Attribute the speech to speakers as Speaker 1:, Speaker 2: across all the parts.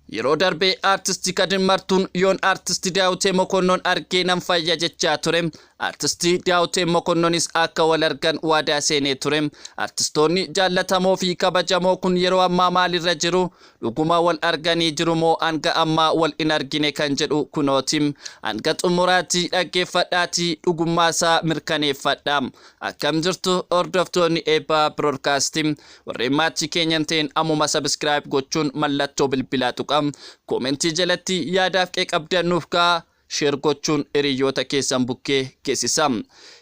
Speaker 1: Yeroo darbe Artisti Kadir Martuun yoon Artisti Daawutee Mokonnon arge nan fayya jechaa ture. Artisti Daawuteen Mokonnonis akka wal argan waadaa seenee ture. Artistoonni jaallatamoo fi kabajamoo kun yeroo ammaa maalirra jiru? Dhuguma wal arganii jiru moo hanga ammaa wal hin argine kan jedhu kunooti. Hanga xumuraatti dhaggeeffadhaatii dhugummaasaa mirkaneeffadhaa. Akkam jirtu hordoftoonni Eebbaa Broodkaastii? Warreen maattii keenya hin ta'in ammuma subscribe gochuun mallattoo bilbilaa tuqa. Comment jalatti yaadaaf qeeqa qabdan nuuf kaa'a. Share gochuun hiriyyoota keessan bukkee geessisa.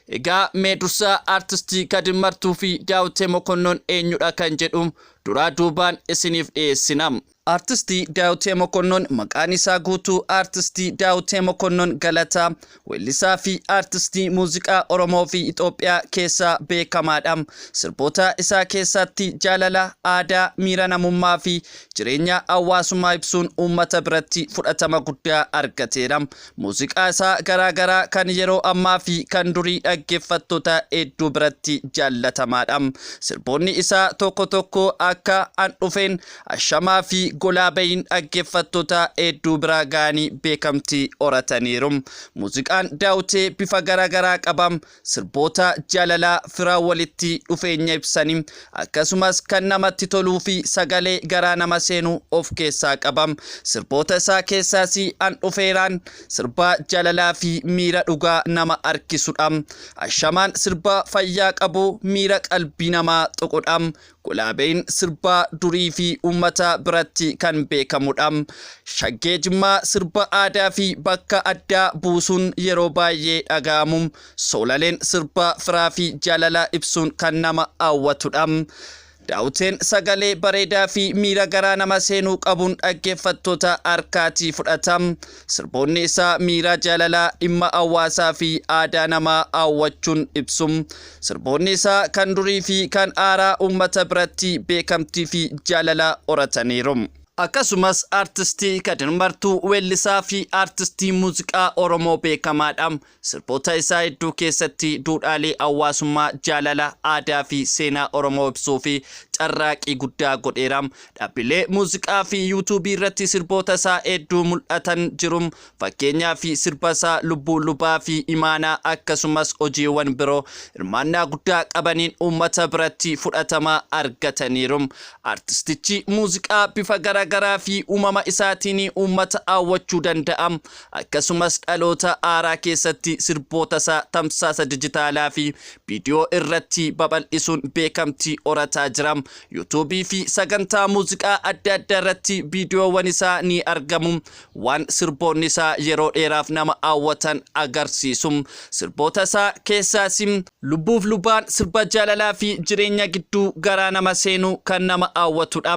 Speaker 1: Egaa mee dursaa Artistii Kadir Martuu fi Daawitee Mokonnon eenyudha kan jedhu duraa duubaan isiniif dhiyeessina. Artisti Daawitee Mokonnon Maqaan isaa guutuu Artisti Daawitee Mokonnon Galataa weellisaa fi artistii muuziqaa Oromoo fi Itoophiyaa keessaa beekamaa dha. Sirboota isaa keessaatti jaalala, aadaa, miira namummaa fi jireenya hawaasummaa ibsuun uummata biratti fudhatama guddaa argateera. Muuziqaa isaa garaa garaa kan yeroo ammaa fi kan durii dhaggeeffattoota hedduu biratti jaallatamaa dha. Sirboonni isaa tokko tokko akka An dhufeen, Ashamaa fi golaa bahiin dhaggeeffattoota hedduu bira ga'anii beekamtii horataniiru. Muuziqaan Daawutee bifa garaa garaa qaba. Sirboota jaalalaa, fira, walitti dhufeenya ibsanii akkasumas kan namatti toluu fi sagalee garaa nama seenu of keessaa qaba. Sirboota isaa keessaas An Dhufeeraan sirba jaalalaa fi miira dhugaa nama harkisudha. Ashamaan sirba fayyaa qabu miira qalbii namaa tuqudha. Gulaabeen sirba durii fi uummata biratti kan beekamudha. Shaggee Jimmaa sirba aadaa fi bakka addaa buusuun yeroo baay'ee dhaga'amu. Soolaleen sirba firaa fi jaalala ibsuun kan nama hawwatudha. Daawuteen sagalee bareedaa fi miira garaa nama seenuu qabuun dhaggeeffattoota harkaatii fudhata. Sirboonni isaa miiraa jaalalaa dhimma hawaasaa fi aadaa namaa hawwachuun ibsu. Sirboonni isaa kan durii fi kan haaraa uummata biratti beekamtii fi jaalala horataniiru. Akkasumas Artistii Kadir Martuu weellisaa fi artistii muuziqaa Oromoo beekamaadha. Sirboota isaa hedduu keessatti duudhaalee hawaasummaa, jaalala, aadaa fi seenaa Oromoo ibsuu fi carraaqii guddaa godheera. Dhaabbilee muuziqaa fi yuutuubii irratti sirboota isaa hedduu mul'atan jiru. Fakkeenyaaf sirba isaa Lubbuu Lubaa fi Imaanaa akkasumas hojiiwwan biroo hirmaannaa guddaa qabaniin uummata biratti fudhatama argataniiru. Artistichi muuziqaa bifa garaagaraa fi uumama isaatiin uummata hawwachuu danda'a. Akkasumas dhaloota haaraa keessatti sirbootasaa tamsaasa dijitaalaafi viidiyoo irratti babal'isuun beekamtii horataa jira. Yuutuubii fi sagantaa muuziqaa adda addaa irratti viidiyoowwan isaa ni argamu. Waan sirboonni isaa yeroo dheeraaf nama hawwatan agarsiisu. Sirboota isaa keessaas Lubbuuf Lubaan sirba jaalalaa fi jireenya gidduu garaa nama seenu kan nama hawwatudha.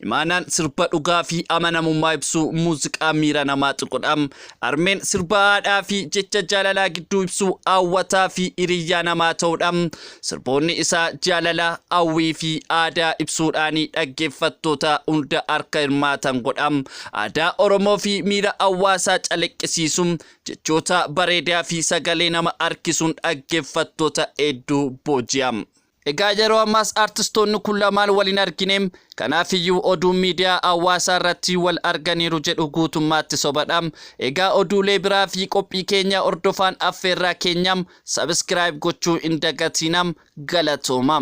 Speaker 1: Imaanaan sirba dhugaa fi amanamummaa ibsu muuziqaa miira namaa tuqudha. Harmeen sirba haadhaa fi jecha jaalalaa gidduu ibsu hawwataa fi hiriyyaa namaa ta'udha. Sirboonni isaa jaalala, hawwii fi aadaa ibsuudhaan dhaggeeffattoota hunda harka hirmaatan godha. Aadaa Oromoo fi miira hawaasaa calaqqisiisu Jechoota bareedaa fi sagalee nama harkisuun dhaggeffattoota hedduu booji'a. Egaa yeroo ammaas artistoonni kun lamaan wal hin argine, kanaafiyyuu oduun miidiyaa hawaasaa irratti wal arganiiru jedhu guutummaatti sobadha. Egaa oduulee biraa fi qophii keenya hordofaan affeerraa keenya, subscribe gochuu hin dagatiina. Galatoomaa!